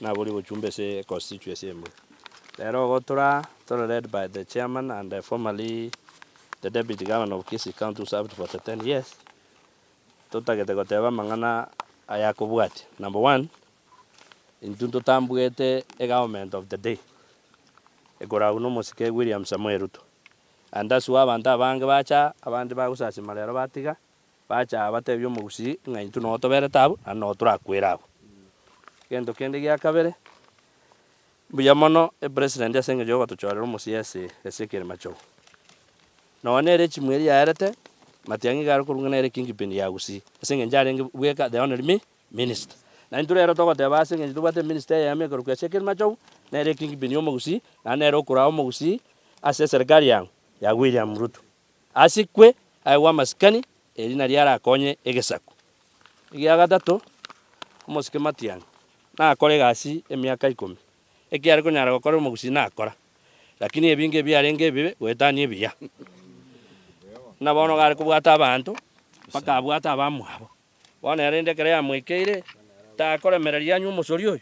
naborie gochumba ase constituency ime. Rero igo tora tore led by the chairman and the formerly the deputy governor of Kisii county who served for the ten years, totagete goteba amang'ana aya akobwatia, number one, intwe ntotambuete e government of the day ekoragwa na omosike William Samoei Ruto, and thus why abanto abange bacha abande bagosasima rero batiga. Bacha abatebia omogusii ng'a intwe nogo toberete abwo, naende nogo torakwere abwo. Egento kende gia kabere, mbuya mono epresident ase eng'encho yogotochorera omosii ase ase ekerema chogu. Nonya nere echimwe eria yaerete, matiang'i iga arekorwa ng'a nere kingpin ya gusii, ase eng'encho arenge bweka the only mi minister. Na intwe rero togoteba ase eng'encho tobwate eminister eyemo ekorokwa ase ekerima chogu, nere ekingpin ya omogusii, naende nere okoraa omogusii ase eserikari aa ya William Ruto. Asikwe aye bw'amasikani, eri nario arakonye egesaku. Egia gatato, omosike Matiang' nakore egasi emiaka ikomi. Eki are konyara gokora omogusii nakora, lakini ebinge ebiarenge ebibe goetania ebiya. Buna bono gare kobwata abanto, mpaka abwate abamwabo. Bono yarenta ekero yamoikeire, takoremereria anywe omosori oyo.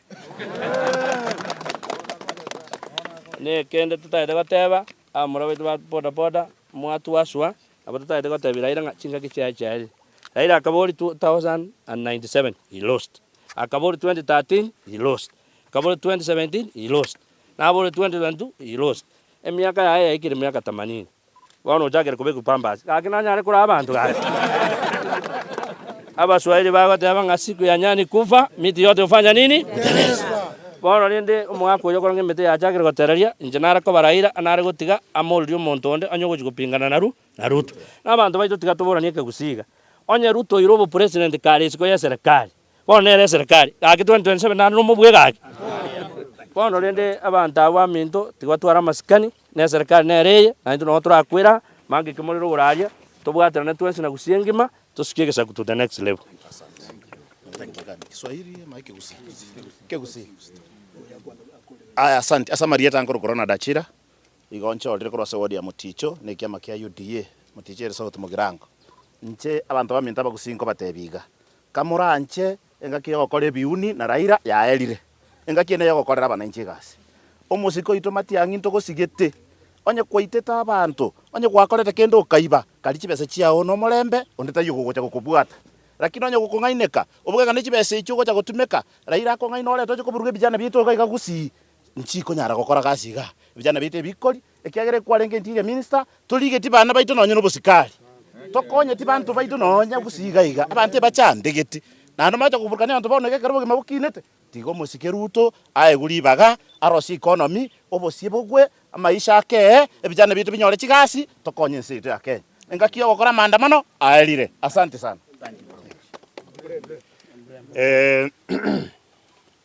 Nekende totagete goteba, abamura baito ba bodaboda, mwatuaswa, nabo totagete gotebia Raila ng'a chingaki chiaye chiarire. Raila akaboria 2097, he lost. Akaboria 2013, he lost. Akaboria 2017, he lost. Naboria 2022, he lost. Emiaka yaye yaikire miaka themanini. Bono ochakire kobekwa pampers. Gaki nanyare koraa abanto gaki. Abaswahili bagoteba ng'a siku ya nyani kufa, miti yote hufanya nini? Huteleza. Bono rende omogaka oyo okoranga emete yachakire gotereria, inche nare kobaraira anare gotiga amoririe omonto onde onye ogochia gopingana na na Ruto. Nabanto baito tiga toboranie ekegusii iga. Onye Ruto oire obopresident kare isiko y'eserekari. Bono nere eserekari, gaki 2027 naende nomobue gaki. Bono rende abanto abwo baminto tibatwara amasikani, na eserekari nere eye, na intwe nonya torakwera aa, manga ekio morero igoro aria, tobwaterane twensi na gusii engima, tosuke egesaku to the next level. Aya, asanti. Ase amarieta nkoro Corona Dachira, igo nchorire korwa ase wodi ya Moticho na ekiama kia UDA, Moticho ere south mogirango. Inche abanto baminto abagusii nkobatebia iga, Kamoranche engaki y'ogokora ebiuni na Raira yaerire, engaki ende y'ogokorera abananchi egasi. Omosike oito Matiang'i ntogosigete, onye kwaitete abanto, onye gwakorete kende okaiba, kari chibesa chiao nomorembe, onde taiyo okogocha gokobwata. Lakini onye gokong'aineka, obogega ne chibesa echio ogocha gotumeka, Raira akong'aina orente oche koburuga ebijana biaito iga iga gusii. nchikonyara gokora gasi iga. Ebijana biaito ebikori, ekiagera ekwarenge intige eminster, torigetie bana baito nonye nobosikari, tokonyeti banto baito nonya gose iga iga, abanto ebachandegeti, naende omaete koburukania abanto bono iga ekero obogima bokinete, tiga omosike Ruto aegwe ribaga, arosie economy, obosie bogwe, amaisha akee, ebijana biaito binyore chigasi, tokonye ense yaito ya Kenya. Engaki yogokora amaandamano aerire. Asante sana.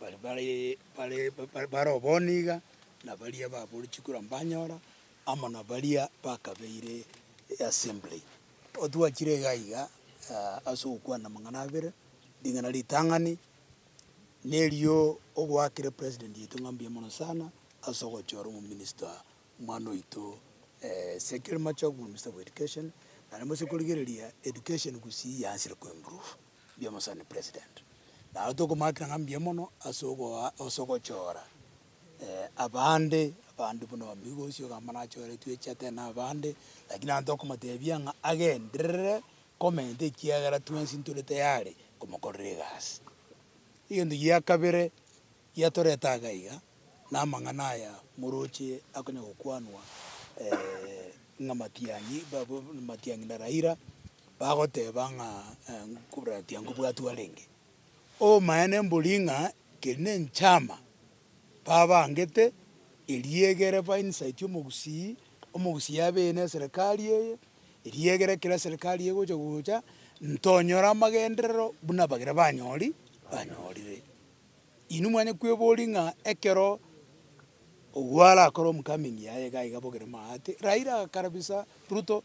Baria bare bare obonge iga nabaria baborokigwe korwa mbanyora amo nabaria bakabeire eassembly. Otwachire iga iga ase ogokwana amang'ana abere, ring'ana ritang'ani na erio ogoakera president yaito ng'a mbuya mono sana ase ogochora omominista omwana oito Ezekiel Machogu, minister of education, naende gose korigereria education gusii yaanchire koimprove. Mbuya mono sana president. Naro tokomaakera ng'a mbuya mono ase ogoa ase ogochora abande, abande buna omigosi ogamana achore tweche ate na abande, lakini ante okomotebia ng'a agenderere comment ekiagera twensi ntore tayari komokorera egasi. Egento gia kabere. Yatorete agaiga namang'ana aya moroche akonya gokwanwa ng'a Matiang'i Matiang'i na Raila bagoteba ng'a Matiang'i nkobwatwa arenge. Obomaene mbori ng'a keri nenchama babangete eria egere bainsaiti omogusii omogusii abeine eserekari eye eria egere ekero eserekari eye egocha gocha ntonyore amagenderero buna bagere banyori banyorire. Inwe mwanye kweboria ng'a ekero ogo arakore omocoming yaye iga iga bogere maate. Raila agakarabisa Ruto,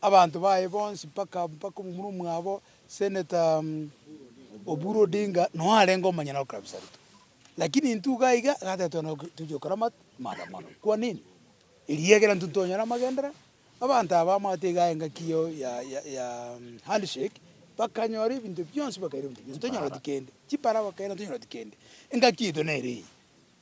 abanto baye bonsi mpaka mpaka omomura omwabo Senator Oburu Odinga noe arenge omonyene okarabisa Ruto. Lakini intwe iga iga iga totwena tochia gokora maandamano. Kwa nini? Eria egere intwe ntonyare amagendereo. Abanto aba bamwate igaya engaki eye ya handshake, bakanyora ebinto bionsi bakaira ebinto bionsi, tonyoreti kende, chipara bakaira tonyoreti kende. Engaki yaito nere eye,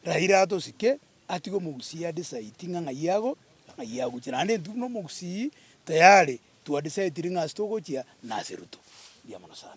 Raila atosike atige omogusii a decide ng'a ng'ai ago na ng'ai agochia, naende intwe buna omogusii tayari twa decide ring'a ase togochia na ase Ruto. Mbuya mono sana.